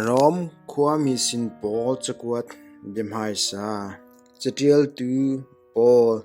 Rom khuami sin pawl cakuat biahmaisa, caṭialtu pawl,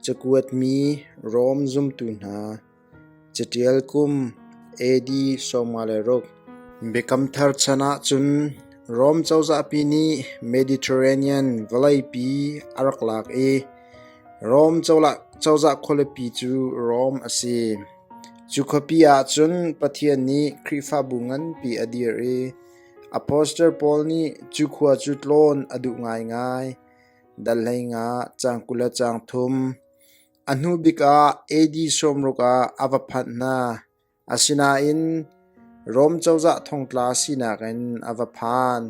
cakuatmi Rom zumtu hna, caṭial kum AD sawmnga le ruk, Biakam Thar chan ahcun Rom cozahpi nih Mediterranean vawleipi a rak lak i Rom cozah khualipi cu Rom a si. Cu khuapi ah cun Pathian nih Khrihfabu nganpi a dir i apostle pawl nih cu khua cu tlawn a duh ngaingai. Dal hleinah cang kul le cang thum. A hnu bik ah AD sawmruk ah a va phanh hna. Asinain Rom cozah thongtla sinak in a va phan.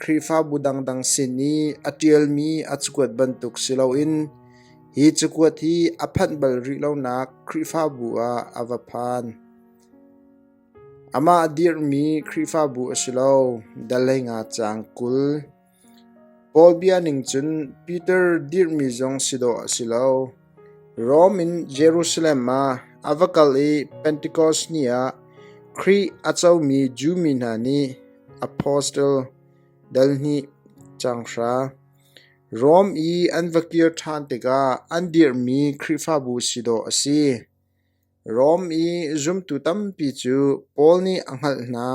Khrihfabu dangdang sin i a ṭialmi a cakuat bantuk si loin hi cakuat hi a phanh bal rih lonak Khrihfabu ah a va phan. Amah a dirhmi Khrihfabu a si lo, dal hlei nga caang kul. Paul bia ning cun Piter dirhmi zong si dawh a si lo. Rom in Jerusalem ah a va kal i Pentikos ni ah Khrih a comi Jew mi hna nih apostle dalhnih caanghra, Rom i an va kir ṭhan tikah an dirhmi Khrihfabu si dawh a si. Rom i zumtu tampi cu Paul nih a hngalh hna.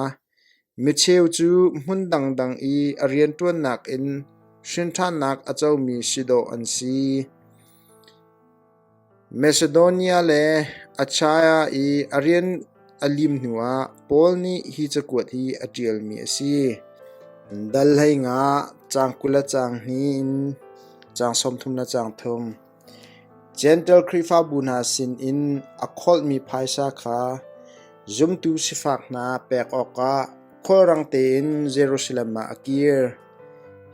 Micheu cu hmun dangdang i a rianṭuannak in hrinṭhannak a comi si dawh an si. Macedonia le Achaia i a rian a lim hnuah Paul nih hi cakuat hi a ṭialmi a si: Dal hlei nga, caang kul le caang hnih in caang sawmthum le caang thum. Jentail Khrihfabu hna sinin a kholhmi phaisa kha zumtu sifak hna pek awkah khulrang tein Jerusalem ah a kir.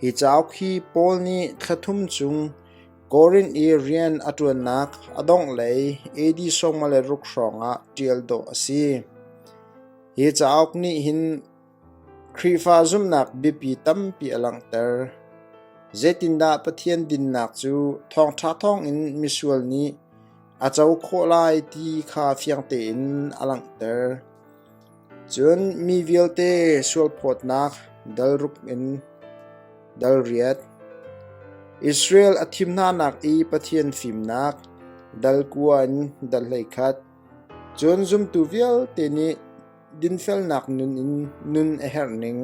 Hi cauk hi Paul nih thla thum chung Korinth i rian a ṭuannak a donglei AD sawmnga le ruk hrawngah ṭial dawh a si. Hi cauk nih hin Khrihfa zumhnak biapi tampi a langhter. Zeitindah Pathian dinnak cu thawngṭha thawngin misual nih a co khawh lai ti kha fiang tein a langhter. Cun mi vialte sualphawtnak dalruk in dal riat. Israel a thim hnanak i Pathian fimnak dal kua in dal hlei khat. Cun zumtu vialte nih dinfelnak nun in nun a herh ning,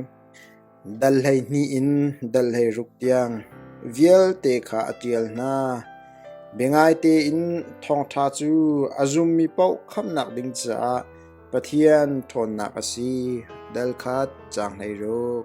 dal hleihnih in dal hleiruk tiang vialte kha a ṭial hna. Biangai tein thawngṭha cu a zummi paoh khamnak ding caah Pathian ṭhawnnak a si. Dal khat cang hleiruk.